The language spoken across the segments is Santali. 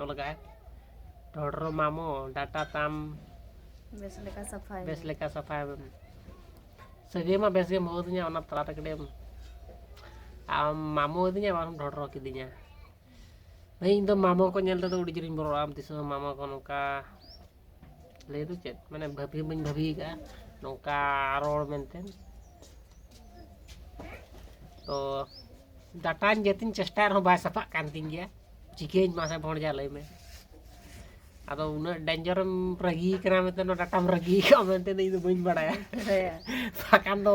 ᱚᱞ ᱞᱟᱜᱟᱜᱼᱟ ᱰᱚᱰᱨᱚ ᱢᱟᱢᱚ ᱰᱟᱴᱟ ᱛᱟᱢ ᱵᱮᱥ ᱞᱮᱠᱟ ᱥᱟᱯᱷᱟᱭ ᱵᱮᱥ ᱞᱮᱠᱟ ᱥᱟᱯᱷᱟᱭ ᱢᱮ ᱥᱟᱹᱜᱟᱹᱭ ᱢᱟ ᱵᱮᱥ ᱜᱮᱢ ᱦᱚᱦᱚ ᱟᱹᱫᱤᱧᱟ ᱚᱱᱟ ᱛᱟᱞᱟᱨᱮ ᱠᱟᱹᱴᱤᱡ ᱮᱢ ᱟᱢ ᱢᱟᱢᱚ ᱟᱹᱫᱤᱧᱟ ᱵᱟᱝ ᱰᱚᱰᱨᱚ ᱠᱤᱫᱤᱧᱟ ᱤᱧ ᱫᱚ ᱢᱟᱢᱚ ᱠᱚ ᱧᱮᱞ ᱛᱮᱫᱚ ᱟᱹᱰᱤ ᱡᱳᱨᱤᱧ ᱵᱚᱨᱚᱜᱼᱟ ᱟᱢ ᱛᱤᱥ ᱦᱚᱸ ᱢᱟᱢᱚ ᱠᱚ ᱱᱚᱝᱠᱟ ᱞᱟᱹᱭ ᱫᱚ ᱪᱮᱫ ᱢᱟᱱᱮ ᱵᱷᱟᱹᱵᱤ ᱵᱟᱹᱧ ᱵᱷᱟᱹᱵᱤ ᱟᱠᱟᱫᱼᱟ ᱱᱚᱝᱠᱟ ᱨᱚᱲ ᱢᱮᱱᱛᱮ ᱛᱚ ᱰᱟᱴᱟᱧ ᱡᱟᱛᱮᱧ ᱪᱮᱥᱴᱟᱭ ᱨᱮᱦᱚᱸ ᱵᱟᱭ ᱥᱟᱯᱷᱟᱜ ᱠᱟᱱ ᱛᱤᱧ ᱜᱮᱭᱟ ᱪᱤᱠᱟᱹᱧ ᱢᱟᱥᱮ ᱵᱷᱚᱲᱡᱟ ᱞᱟᱹᱭ ᱢᱮ ᱟᱫᱚ ᱩᱱᱟᱹᱜ ᱰᱮᱧᱡᱚᱨᱮᱢ ᱨᱟᱹᱜᱤ ᱠᱟᱱᱟ ᱢᱮᱱᱛᱮ ᱱᱚᱣᱟ ᱰᱟᱴᱟᱢ ᱨᱟᱹᱜᱤ ᱠᱟᱜᱼᱟ ᱢᱮᱱᱛᱮ ᱤᱧ ᱫᱚ ᱵᱟᱹᱧ ᱵᱟᱲᱟᱭᱟ ᱵᱟᱠᱷᱟᱱ ᱫᱚ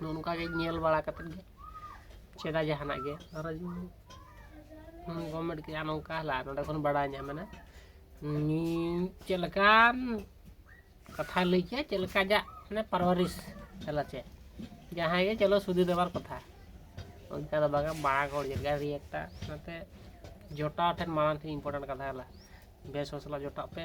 ᱱᱚᱜᱼᱚ ᱱᱚᱝᱠᱟ ᱜᱮ ᱧᱮᱞ ᱵᱟᱲᱟ ᱠᱟᱛᱮᱫ ᱜᱮ ᱪᱮᱫᱟ ᱡᱟᱦᱟᱱᱟᱜ ᱜᱮ ᱟᱨ ᱜᱚᱵᱷᱚᱨᱱᱢᱮᱱᱴ ᱠᱮᱭᱟ ᱱᱚᱝᱠᱟ ᱦᱟᱞᱟ ᱱᱚᱰᱮ ᱠᱷᱚᱱ ᱵᱟᱲᱟᱭ ᱧᱟᱢᱮᱱᱟ ᱪᱮᱫ ᱞᱮᱠᱟᱱ ᱠᱟᱛᱷᱟ ᱞᱟᱹᱭ ᱠᱮᱫᱟ ᱪᱮᱫ ᱞᱮᱠᱟ ᱡᱟᱜ ᱢᱟᱱᱮ ᱯᱟᱨᱣᱟᱨᱤᱥ ᱦᱟᱞᱟ ᱪᱮᱫ ᱡᱟᱦᱟᱸᱭ ᱜᱮ ᱪᱚᱞᱚ ᱥᱩᱫᱷᱤ ᱫᱮᱵᱟᱨ ᱠᱟᱛᱷᱟ ᱚᱱᱠᱟ ᱫᱚ ᱵᱟᱝᱟ ᱢᱟᱲᱟᱝ ᱦᱚᱲ ᱪᱮᱫ ᱞᱮᱠᱟ ᱨᱤᱭᱮᱠᱴᱟ ᱚᱱᱟᱛᱮ ᱡᱚᱴᱟᱣ ᱴᱷᱮᱱ ᱢᱟᱲᱟᱝ ᱴᱷᱮᱱ ᱤᱢᱯᱚᱨᱴᱮᱱᱴ ᱠᱟᱛᱷᱟ ᱦᱟᱞᱟ ᱵᱮᱥ ᱦᱚᱲ ᱥᱟᱞᱟᱜ ᱡᱚᱴᱟᱜ ᱯᱮ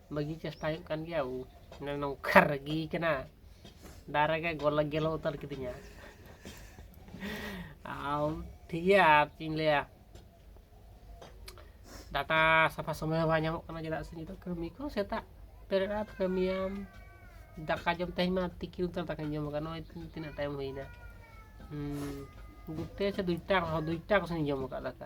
ᱵᱟᱹᱜᱤ ᱪᱮᱥᱴᱟ ᱦᱩᱭᱩᱜ ᱠᱟᱱ ᱜᱮᱭᱟ ᱢᱟᱱᱮ ᱱᱚᱝᱠᱟ ᱨᱟᱹᱜᱤ ᱠᱟᱱᱟ ᱫᱟᱨᱮ ᱜᱮ ᱜᱚᱞᱟ ᱜᱮᱞᱚ ᱩᱛᱟᱹᱨ ᱠᱤᱫᱤᱧᱟ ᱟᱨ ᱴᱷᱤᱠ ᱜᱮᱭᱟ ᱟᱨ ᱪᱮᱫ ᱤᱧ ᱞᱟᱹᱭᱟ ᱰᱟᱴᱟ ᱥᱟᱯᱷᱟ ᱥᱚᱢᱚᱭ ᱦᱚᱸ ᱵᱟᱭ ᱧᱟᱢᱚᱜ ᱠᱟᱱᱟ ᱪᱮᱫᱟᱜ ᱥᱮ ᱱᱤᱛᱚᱜ ᱠᱟᱹᱢᱤ ᱠᱚ ᱥᱮᱛᱟᱜ ᱵᱮᱨᱮᱫ ᱟᱢ ᱠᱟᱹᱢᱤᱭᱟᱢ ᱫᱟᱠᱟ ᱡᱚᱢ ᱛᱮᱦᱮᱧ ᱢᱟ ᱛᱤᱠᱤᱱ ᱩᱛᱟᱹᱨ ᱫᱟᱠᱟᱧ ᱡᱚᱢ ᱟᱠᱟᱫ ᱱᱚᱜᱼᱚᱭ ᱛᱤᱱᱟᱹᱜ ᱴᱟᱭᱤᱢ ᱦᱩᱭᱱᱟ ᱫᱩᱴᱮ ᱥᱮ ᱫᱩᱴᱟ ᱫᱩᱴᱟ ᱠᱚᱥᱮᱱᱤᱧ ᱡᱚᱢ ᱟᱠᱟᱫ ᱫᱟᱠᱟ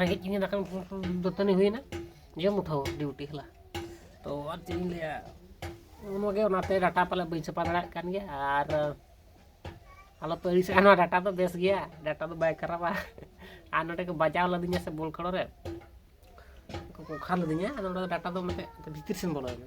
ᱨᱮᱸᱜᱮᱡ ᱠᱤᱧᱟᱹ ᱫᱟᱠᱟ ᱫᱟᱹᱛᱟᱹᱱᱤ ᱦᱩᱭᱮᱱᱟ ᱡᱚᱢ ᱩᱴᱷᱟᱹᱣ ᱰᱤᱣᱩᱴᱤ ᱦᱮᱞᱟ ᱛᱚ ᱟᱨ ᱪᱮᱫ ᱤᱧ ᱞᱟᱹᱭᱟ ᱚᱱᱟᱜᱮ ᱚᱱᱟᱛᱮ ᱰᱟᱴᱟ ᱯᱟᱞᱮ ᱵᱟᱹᱧ ᱥᱟᱯᱟ ᱫᱟᱲᱮᱭᱟᱜ ᱠᱟᱱ ᱜᱮᱭᱟ ᱟᱨ ᱟᱞᱚ ᱯᱮ ᱟᱹᱲᱤᱥᱚᱜᱼᱟ ᱱᱚᱣᱟ ᱰᱟᱴᱟ ᱫᱚ ᱵᱮᱥ ᱜᱮᱭᱟ ᱰᱟᱴᱟ ᱫᱚ ᱵᱟᱭ ᱠᱷᱟᱨᱟᱯᱟ ᱟᱨ ᱱᱚᱰᱮ ᱠᱚ ᱵᱟᱡᱟᱣ ᱞᱮᱫᱤᱧᱟ ᱥᱮ ᱵᱚᱞ ᱠᱷᱮᱞᱳ ᱨᱮ ᱠᱚ ᱠᱷᱟᱞ ᱞᱮᱫᱤᱧᱟ ᱟᱫᱚ ᱱᱚᱰᱮ ᱰᱟᱴᱟ ᱫᱚ ᱢᱤᱫᱴᱮᱡ ᱵᱷᱤᱛᱤᱨ ᱥᱮᱱ ᱵᱚᱞᱚᱭᱮᱱᱟ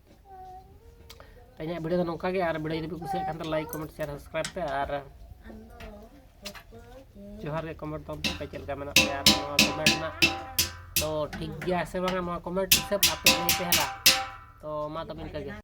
ᱛᱮᱦᱮᱧᱟᱜ ᱵᱷᱤᱰᱤᱭᱳ ᱫᱚ ᱱᱚᱝᱠᱟ ᱜᱮ ᱟᱨ ᱵᱷᱤᱰᱤᱭᱳ ᱡᱩᱫᱤ ᱯᱮ ᱠᱩᱥᱤᱭᱟᱜ ᱠᱷᱟᱱ ᱫᱚ ᱞᱟᱭᱤᱠ ᱠᱚᱢᱮᱱᱴ ᱥᱮᱭᱟᱨ ᱥᱟᱵᱥᱠᱨᱟᱭᱤᱵ ᱯᱮ ᱟᱨ ᱡᱚᱦᱟᱨ ᱜᱮ ᱠᱚᱢᱮᱱᱴ ᱛᱟᱵᱚᱱ ᱯᱮ ᱪᱮᱫ ᱞᱮᱠᱟ ᱢᱮᱱᱟᱜ ᱯᱮᱭᱟ ᱟᱨ ᱱᱚᱣᱟ ᱠᱚᱢᱮᱱᱴ ᱨᱮᱱᱟᱜ ᱛᱚ ᱴᱷᱤᱠ ᱜᱮᱭᱟ ᱥᱮ ᱵᱟᱝᱟ ᱱᱚᱣᱟ ᱠᱚᱢᱮᱱᱴ ᱦᱤᱥᱟᱹᱵ ᱟᱯᱮ ᱞᱟᱹᱭ ᱯᱮ ᱦᱮᱞᱟ ᱛᱚ ᱢᱟ ᱛᱚᱵᱮ ᱤᱱᱠᱟᱹ ᱜᱮ